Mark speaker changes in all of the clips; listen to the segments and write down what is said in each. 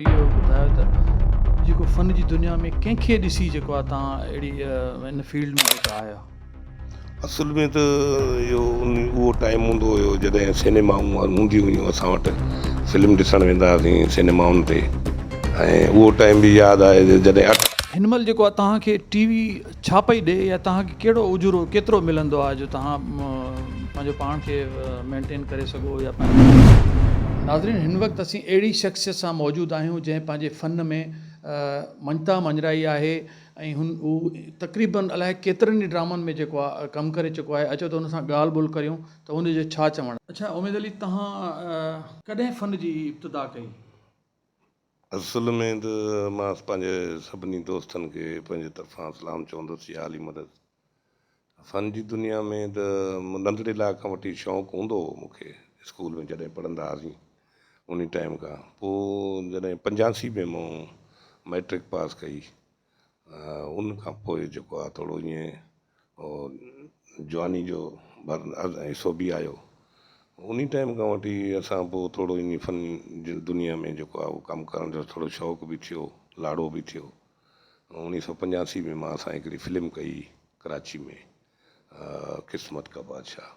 Speaker 1: اهو ٻڌايو ته جيڪو فن جي دنيا ۾ ڪنهن کي ڏسي جيڪو آهي تان اهڙي ان فيلڊ ۾ جيڪو آهيا. اصل
Speaker 2: ۾ ته اهو ان اهو ٽائيم هوندو هيو جڏهن سينيمائون هونديون هيون اسان وٽ فلم ڏسڻ ويندا هئاسين سينيمائن تي ۽ اهو ٽائيم به ياد آهي جڏهن اٺ. هن مهل جيڪو آهي
Speaker 1: توهان کي ٽي وي. ڇا پئي ڏئي يا توهان کي ڪهڙو اجورو ڪيترو ملندو آهي جو توهان پنهنجو پاڻ کي مينٽين ڪري سگهو يا پنهنجي ناظرين هن وقت اسين اهڙي شخصيت سان موجود آهيون جنهن پنهنجي فن ۾ مڃتا مڃرائي آهي ۽ هن هو تقريبن الائي ڪيترن ئي ڊرامن ۾ جيڪو آهي ڪم ڪري چڪو آهي اچو ته هن سان ڳالهه ٻولهه ڪريون ته هن جو ڇا چوڻ آهي. اڇا اميد علي توهان ڪڏهن فن جي ابتدا ڪئي؟
Speaker 2: اصل ۾ ته مان پنهنجي سڀني دوستن کي پنهنجي طرفان سلام چوندس يا علي مدد. فن جي دنيا ۾ ته ننڍڙي لاء کان وٺي شوق هوندو هو مون کي اسڪول ۾ جڏهن پڙهندا هئاسين انهي ٽائيم کان پوء جڏهن پنجاسي ۾ مون مئٽرڪ پاس ڪئي ان کان پوء جيڪو آ ٿورو ائين جواني جو حصو به آيو ان ٽائيم کان وٺي اسان پوء ٿورو ائين فن جي دنيا ۾ جيڪو آ ڪم ڪرڻ جو ٿورو شوق به ٿيو لاڙو به ٿيو اڻيهه سو پنجاسي ۾ اسان هڪڙي فلم ڪئي ڪراچي ۾ قسمت ڪا بادشاهه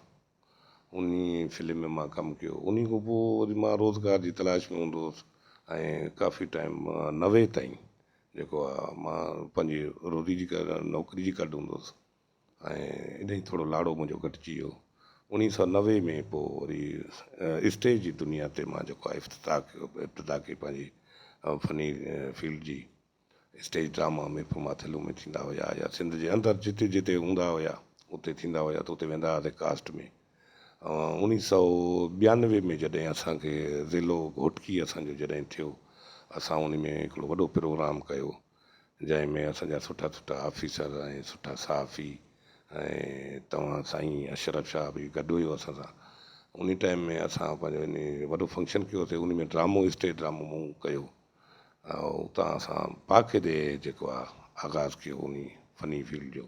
Speaker 2: انهي فلم ۾ مان ڪم ڪيو انهي کان پوء وري مان روزگار جي تلاش ۾ هوندو هوس ۽ ڪافي ٽائيم نوي تائين جيڪو آ مان پنهنجي روزي جي نوڪري جي ڪڍ هوندو هوس ۽ انهي ٿورو لاڙو منهنجو گهٽجي ويو انهي سؤ نوي ۾ پوء وري اسٽيج جي دنيا تي مان جيڪو آ افتتاح ڪيو ابتدا ڪئي پنهنجي فني فيلڊ جي. اسٽيج ڊراما محفل ماٿيلو ۾ ٿيندا هيا يا سنڌ جي اندر جتي جتي هوندا هيا اتي ٿيندا هيا ته اتي ويندا هئاسين ڪاسٽ ۾ اوڻيهه سؤ ٻيانوي ۾ جڏهن اسان کي ضلعو گهوٽڪي اسان جو جڏهن ٿيو اسان ان ۾ هڪڙو وڏو پروگرام ڪيو جنهن ۾ اسان جا سٺا سٺا آفيسر ۽ سٺا صحافي ۽ توهان سائين اشرف شاهه به گڏ هيو اسان سان انهي ٽائيم ۾ اسان پنهنجو وڏو فنڪشن ڪيوسي انهي ۾ ڊرامو اسٽيج ڊرامو مون ڪيو اتان اسان باقاعدي جيڪو آ آغاز ڪيو انهي فني فيلڊ جو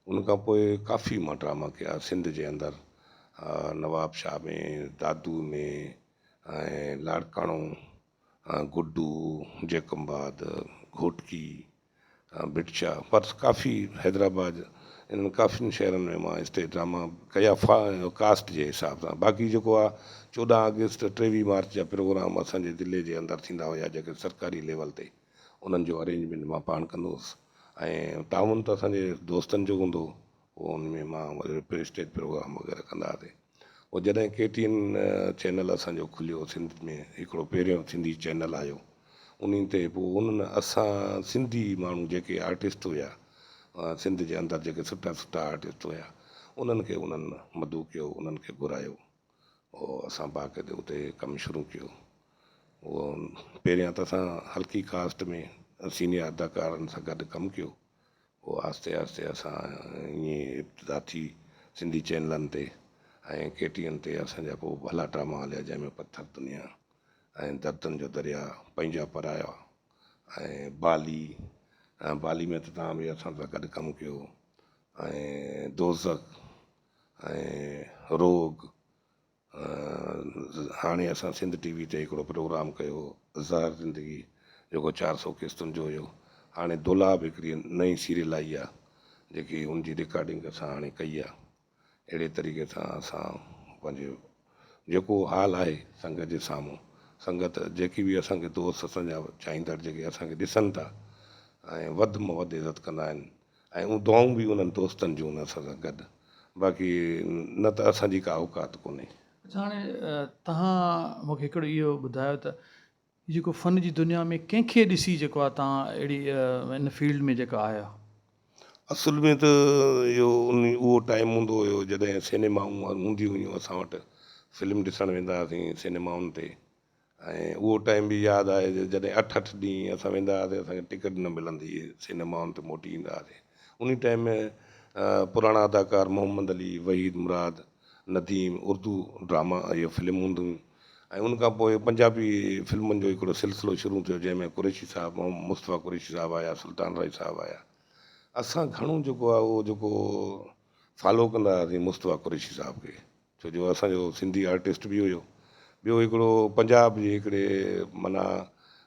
Speaker 2: ان کان پوء ڪافي ما ڊراما ڪيا سنڌ جي اندر نوابشاهه ۾ دادو ۾ لاڙڪاڻو گڊو جيڪب آباد گهوٽڪي ڀٽشا، پرس ڪافي حيدرآباد انهن ڪافين شهرن ۾ مان اسٽيج ڊراما ڪيا ڦا ۽ ڪاسٽ جي حساب سان باقي جيڪو آ چوڏهن آگسٽ ٽيويهه مارچ جا پروگرام اسان جي ضلعي جي اندر ٿيندا هيا جيڪي سرڪاري ليول تي انهن جو ارينجمينٽ مان پاڻ ڪندو هوس ۽ تعاون ته اسان جي دوستن جو هوندو هو پوء ان ۾ مان وري رپيٽ اسٽيج پروگرام وغيره ڪندا هئاسي پوء جڏهن ڪي ٽي اين چينل اسانجو کليو سنڌ ۾ هڪڙو پهريون سنڌي چينل آيو انهن تي پوء انهن اسان سنڌي ماڻهو جيڪي آرٽسٽ هيا سنڌ جي اندر جيڪي سٺا سٺا آرٽسٽ هيا انهن کي انهن مدعو ڪيو انهن کي گهرايو او اسان باقاعده اتي ڪم شروع ڪيو او پهريان ته اسان هلڪي ڪاسٽ ۾ سينيئر اداڪارن سان گڏ ڪم ڪيو پوء آهستي آهستي اسان ائين ابتدا ٿي سنڌي چينلن تي ۽ ڪي ٽي اين تي اسان جا ڪو ڀلا ڊراما هليا جنهن ۾ پٿر دنيا ۽ دردن جو دريا پنهنجا پرايا ۽ بالي ۽ بالي ۾ ته توهان به اسان سان گڏ ڪم ڪيو ۽ دوزخ ۽ روڳ هاڻي اسان سنڌ ٽي وي تي هڪڙو پروگرام ڪيو هو زهر زندگي جيڪو چار سؤ قسطن جو هيو هاڻي دولهه به هڪڙي نئين سيريل آئي آ جيڪي ان جي رڪارڊنگ اسان هاڻي ڪئي آ اهڙي طريقي سان اسان پنهنجي جيڪو حال آهي سنگت جي سامهون سنگت جيڪي به اسان کي دوست اسان جا چاهيندڙ جيڪي اسان کي ڏسن ٿا ۽ وڌ م وڌ عزت ڪندا آهن ۽ اهو دعائون به انهن دوستن جون هن سان گڏ باقي نه ته اسان جي ڪا اوقات ڪونهي. اچا هاڻي
Speaker 1: تهان مون کي هڪڙو اهو ٻڌايو ته هي جيڪو فن جي دنيا ۾ ڪنهن کي ڏسي جيڪو آ تهان اهڙي ان فيلڊ ۾ جيڪا آيا. اصل
Speaker 2: ۾ ته اهو ان اهو ٽائيم هوندو هيو جڏهن سينيمائون هونديون هيون اسان وٽ فلم ڏسڻ ويندا هئاسين سينيمائن تي. ۽ اهو ٽائيم به ياد آهي جو جڏهن اٺ اٺ ڏينهن اسان ويندا هئاسين اسان کي ٽڪيٽ نه ملندي هئي سينيمائن تي موٽي ايندا هئاسين انهي ٽائيم ۾ پراڻا اداڪار محمد علي وحيد مراد نديم اردو ڊراما اهي فلم هونديون هيون ۽ ان کان پوء پنجابي فلمن جو هڪڙو سلسلو شروع ٿيو جنهن ۾ قريشي صاحب محمد مصطفيٰ قريشي صاحب آيا سلطان رائي صاحب آيا اسان گهڻو جيڪو آهي اهو جيڪو فالو ڪندا هئاسين مصطفيٰ قريشي صاحب کي ڇو جو اسان جو سنڌي آرٽسٽ به هيو. ٻيو هڪڙو پنجاب جي هڪڙي معنيٰ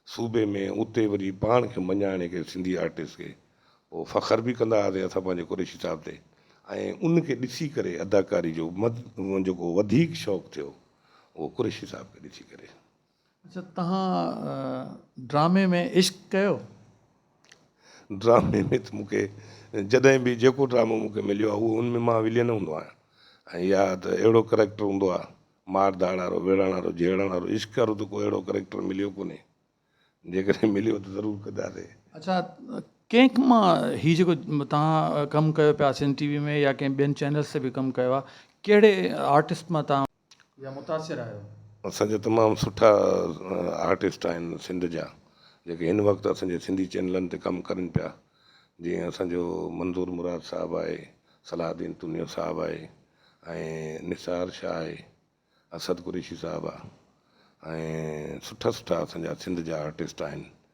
Speaker 2: صوبي ۾ اتي وري پاڻ کي مڃائڻ کي سنڌي آرٽسٽ کي پوء فخر به ڪندا هئاسين اسان پنهنجي قريشي صاحب تي ۽ ان کي ڏسي ڪري اداڪاري جو جيڪو وڌيڪ شوق ٿيو اهو قريشي صاحب کي ڏسي ڪري. اچا تهان
Speaker 1: ڊرامي ۾ عشق ڪيو؟ ڊرامي
Speaker 2: ۾ ته مون کي جڏهن به جيڪو ڊرامو مون کي مليو آهي اهو ان ۾ مان ولين هوندو آهيان ۽ يا ته اهڙو ڪريڪٽر هوندو آهي مار ڌاڙ وارو، ويڙهڻ وارو، جهيڙڻ وارو، عشق وارو ته ڪو اهڙو ڪريڪٽر مليو ڪونهي. جيڪڏهن مليو ته ضرور ڪنداسين. اچا
Speaker 1: ڪنهن مان هي جيڪو تهان ڪم ڪيو پيا سنڌ ٽي وي ۾ يا ڪنهن ٻين چينلز تي به ڪم ڪيو آهي ڪهڙي آرٽسٽ مان تهان يا متاثر آهيو؟ اسان جا تمام
Speaker 2: سٺا آرٽسٽ آهن سنڌ جا جيڪي هن وقت اسان جي سنڌي چينلن تي ڪم ڪرين پيا جيئن اسان جو منظور مراد صاحب آهي صلاح الدين تونيو صاحب آهي ۽ نثار شاهه آهي اسد قريشي صاحب آهي ۽ سٺا سٺا اسان جا سنڌ جا آرٽسٽ آهن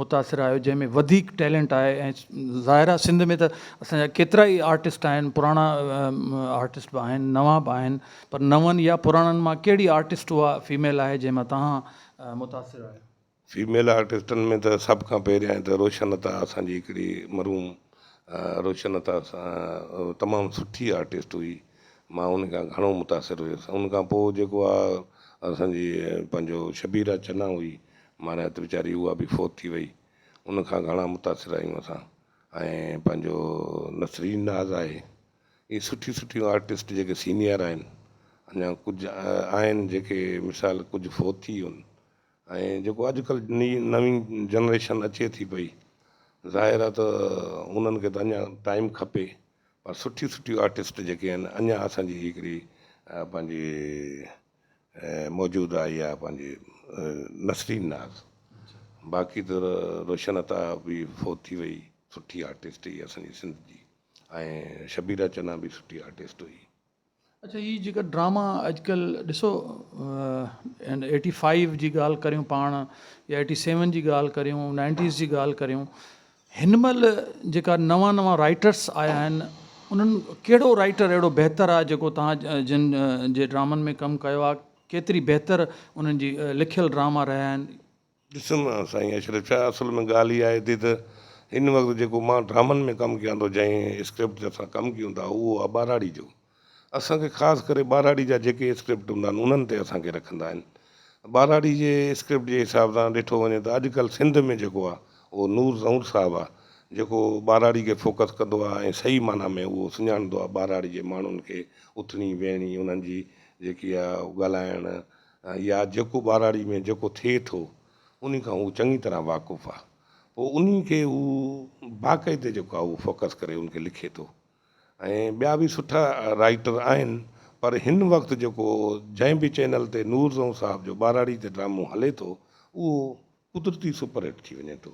Speaker 1: متاثر آهيو جنهن ۾ وڌيڪ ٽيلنٽ آهي ۽ ظاهر آهي سنڌ ۾ ته اسان جا ڪيترا ئي آرٽسٽ آهن پراڻا آرٽسٽ به آهن نوان به آهن پر نون يا پراڻن مان ڪهڙي آرٽسٽ اها فيميل آهي جنهن مان توهان متاثر آهيو؟ فيميل آرٽسٽن
Speaker 2: ۾ ته سڀ کان پهريائين ته روشن عطا اسان جي هڪڙي مرحوم روشن عطا تمام سٺي آرٽسٽ هئي مان ان کان گهڻو متاثر هيس ان کان پوء جيڪو آهي اسان جي پنهنجو شبيرا چنا هئي ماريا ته ويچاري اها به فوت ٿي وئي ان کان گهڻا متاثر آهيون اسان ۽ پنهنجو نسرين ناز آهي اهي سٺيون سٺيون آرٽسٽ جيڪي سينيئر آهن اڃا ڪجهه آهن جيڪي مثال ڪجهه فوت ٿي ويون ۽ جيڪو اڄڪلهه ني نوين جنريشن اچي ٿي پئي ظاهر آهي ته انهن کي ته اڃا ٽائيم کپي پر سٺيون سٺيون آرٽسٽ جيڪي آهن اڃا اسان جي هڪڙي پنهنجي موجود آهي اها پنهنجي نسرين ناز باقي ته روشن عطا به فوت ٿي وئي سٺي آرٽسٽ هئي اسان جي سنڌ جي ۽ شبيرا چنا به سٺي آرٽسٽ هئي اڇا هي
Speaker 1: جيڪا ڊراما اڄڪلهه ڏسو ايٽي فائيو جي ڳالهه ڪريون پاڻ يا ايٽي سيون جي ڳالهه ڪريون نائنٽيز جي ڳالهه ڪريون هن مهل جيڪا نوان نوان رائيٽرس آيا آهن انهن ڪهڙو رائيٽر اهڙو بهتر آهي جيڪو توهان جن جي ڊرامن ۾ ڪم ڪيو آهي ڪيتري بهتر انهن جي لکيل ڊراما رهيا آهن. ڏسو نه
Speaker 2: سائين اشرف شاهه اصل ۾ ڳالهه اها آهي ٿي ته هن وقت جيڪو مان ڊرامن ۾ ڪم ڪيان ٿو جنهن اسڪرپٽ تي اسان ڪم ڪيون ٿا اهو آهي ٻهراڙي جو. اسان کي خاص ڪري ٻهراڙي جا جيڪي اسڪرپٽ هوندا آهن انهن تي اسان کي رکندا آهن. ٻهراڙي جي اسڪرپٽ جي حساب سان ڏٺو وڃي ته اڄ ڪلهه سنڌ ۾ جيڪو آهي اهو نور زهور صاحب آهي جيڪو ٻهراڙي کي فوڪس ڪندو آهي ۽ صحيح معنيٰ ۾ اهو سڃاڻندو آهي ٻهراڙي جي ماڻهن کي اٿڻي ويهڻي انهن جي جيڪي آهي اهو ڳالهائڻ يا جيڪو ٻهراڙي ۾ جيڪو ٿئي ٿو انهي کان هو چڱي طرح واقف آهي پوء انهي کي هو باقاعدي جيڪو آهي اهو فوڪس ڪري ان کي لکي ٿو ۽ ٻيا به سٺا رائيٽر آهن پر هن وقت جيڪو جنهن به چينل تي نور زئون صاحب جو ٻهراڙي تي ڊرامو هلي ٿو اهو قدرتي سپر هٽ ٿي وڃي ٿو.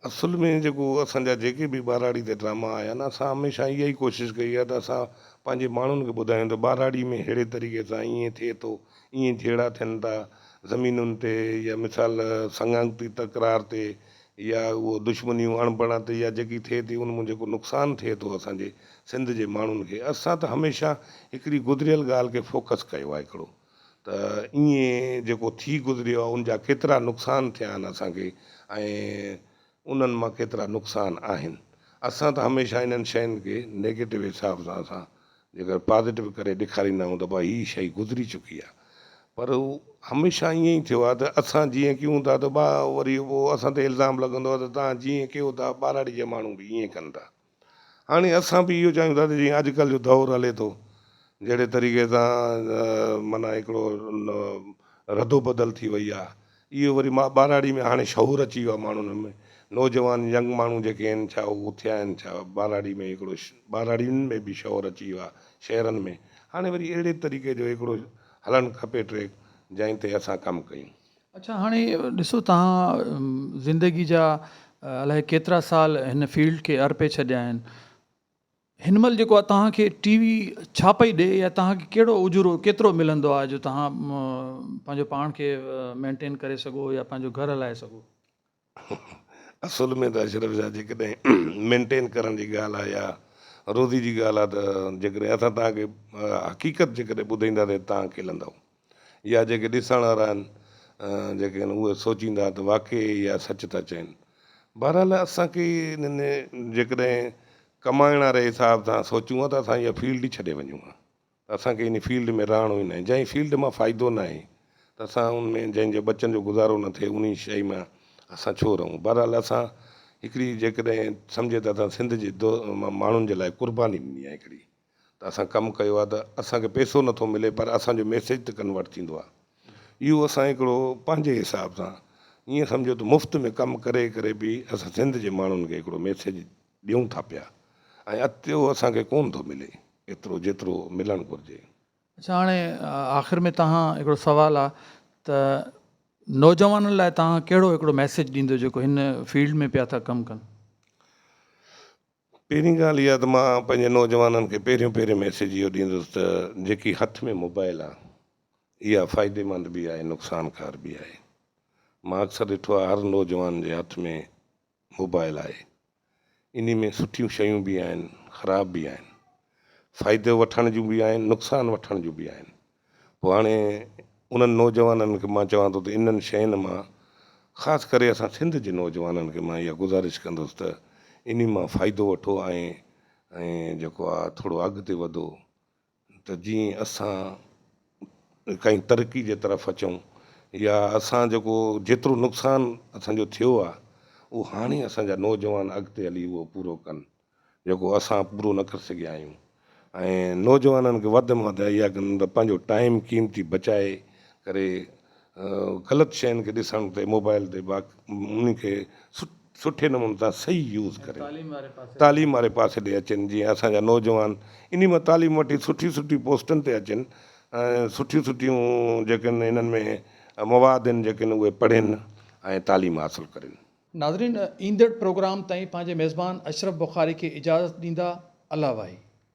Speaker 2: اصل ۾ جيڪو اسان جا جيڪي به ٻهراڙي تي ڊراما آيا آهن اسان هميشه اها ئي ڪوشش ڪئي آهي ته اسان پنهنجي ماڻهن کي ٻڌايون ته ٻهراڙي ۾ ههڙي طريقي سان ائين ٿئي ٿو ائين جهيڙا ٿين ٿا زمينن تي يا مثال سڱانگتي تڪرار تي يا اهو دشمنيون اڻبڻاتي يا جيڪي ٿئي ٿي ان مون جيڪو نقصان ٿئي ٿو اسان جي سنڌ جي ماڻهن کي اسان ته هميشه هڪڙي گذريل ڳالهه کي فوڪس ڪيو آهي هڪڙو ته ايئن جيڪو ٿي گذريو آهي ان جا ڪيترا نقصان ٿيا آهن اسان کي ۽ انهن مان ڪيترا نقصان آهن اسان ته هميشه انهن شين کي نيگيٽو حساب سان اسان جيڪر پازيٽو ڪري ڏيکاريندا آهيون ته ڀاء هي شئي گذري چڪي آهي پر هو هميشه ائين ئي ٿيو آهي ته اسان جيئن ڪيون ٿا ته ڀاء وري پوء اسان تي الزام لڳندو آهي ته توهان جيئن ڪيو ٿا ٻهراڙي جا ماڻهو به ائين ڪن ٿا هاڻي اسان به اهو چاهيون ٿا ته جيئن اڄڪلهه جو دور هلي ٿو جهڙي طريقي سان معنيٰ هڪڙو ردوبدل ٿي وئي آهي اهو وري مان ٻهراڙي ۾ هاڻي شعور اچي ويو آهي ماڻهن ۾ نوجوان ينگ ماڻهو جيڪي آهن ڇا هو اٿيا آهن ڇا ٻهراڙي ۾ هڪڙو ٻهراڙين ۾ به شعور اچي ويو آهي شهرن ۾ هاڻي وري اهڙي طريقي جو هڪڙو هلڻ کپي ٽريڪ جنهن تي اسان ڪم ڪيون. اڇا هاڻي
Speaker 1: ڏسو توهان زندگي جا الائي ڪيترا سال هن فيلڊ کي ارپي ڇڏيا آهن. هن مهل جيڪو آهي توهان کي ٽي وي ڇا پئي ڏي يا توهان کي ڪهڙو اجورو ڪيترو ملندو آهي جو توهان پنهنجو پاڻ کي مينٽين ڪري سگهو يا پنهنجو گهر هلائي سگهو.
Speaker 2: اصل ۾ ته اشرف شاهه جيڪڏهن مينٽين ڪرڻ جي ڳالهه آهي يا روزي جي ڳالهه آهي ته جيڪڏهن اسان توهان کي حقيقت جيڪڏهن ٻڌائينداسين توهان کلندؤ. يا جيڪي ڏسڻ وارا آهن جيڪي آهن اهي سوچيندا ته واقعي اها سچ ٿا چين. بهرحال اسان کي انهن جيڪڏهن ڪمائڻ واري حساب سان سوچون ها ته اسان اها فيلڊ ئي ڇڏي وڃون ها ته اسان کي ان فيلڊ ۾ رهڻو ئي ناهي جنهن فيلڊ مان فائدو ناهي ته اسان ان ۾ جنهن جو ٻچن جو گذارو نه ٿئي انهي شئي مان اسان ڇو رهون. بهرحال اسان هڪڙي جيڪڏهن سمجهي ته اسان سنڌ جي ماڻهن جي لاء قرباني ڏني آهي هڪڙي. ته اسان ڪم ڪيو آهي ته اسان کي پيسو نه ٿو ملي پر اسان جو ميسيج ته ڪنورٽ ٿيندو آهي اهو اسان هڪڙو پنهنجي حساب سان ائين سمجهو ته مفت ۾ ڪم ڪري ڪري به اسان سنڌ جي ماڻهن کي هڪڙو ميسيج ڏيون ٿا پيا ۽ اتيو اسان کي ڪون ٿو ملي ايترو جيترو ملڻ گهرجي. اڇا هاڻي
Speaker 1: آخر ۾ توهان هڪڙو سوال آهي ته نوجوانن لاء توهان ڪهڙو هڪڙو ميسيج ڏيندو جيڪو هن فيلڊ ۾ پيا ٿا ڪم ڪن.
Speaker 2: پهرين ڳالهه اها ته مان پنهنجي نوجوانن کي پهريون پهريون ميسيج اهو ڏيندس ته جيڪي هٿ ۾ موبائل آ اها فائديمند به آهي نقصانڪار به آهي مان اڪثر ڏٺو آهي هر نوجوان جي هٿ ۾ موبائل آهي انهي ۾ سٺيون شيون به آهن خراب به آهن فائدو وٺڻ جون به آهن نقصان وٺڻ جون به آهن پوء هاڻي انهن نوجوانن کي مان چوان ٿو ته انهن شين مان خاص ڪري اسان سنڌ جي نوجوانن کي مان اها گذارش ڪندس ته انهي مان فائدو وٺو ۽ ۽ جيڪو آ ٿورو اڳتي وڌو ته جيئن اسان ڪنهن ترقي جي طرف اچون يا اسان جيڪو جيترو نقصان اسان جو ٿيو آ اهو هاڻي اسان جا نوجوان اڳتي هلي اهو پورو ڪن. جيڪو اسان پورو نه ڪري سگهيا آهيون ۽ نوجوانن کي وڌ ۾ وڌ اهيا ڪن ته پنهنجو ٽائيم قيمتي بچائي ڪري غلط شين کي ڏسڻ تي موبائل تي با انهن کي سٺي نموني سان صحيح يوز ڪري تعليم واري پاسي ڏي اچن جيئن اسان جا نوجوان انهي مان تعليم وٺي سٺي سٺي پوسٽن تي اچن ۽ سٺيون سٺيون جيڪن انهن ۾ مواد آهن جيڪن اهي پڙهين ۽ تعليم حاصل ڪرين ناظرين
Speaker 1: ايندڙ پروگرام تائين پنهنجي ميزبان اشرف بخاري کي اجازت ڏيندا الله واهي.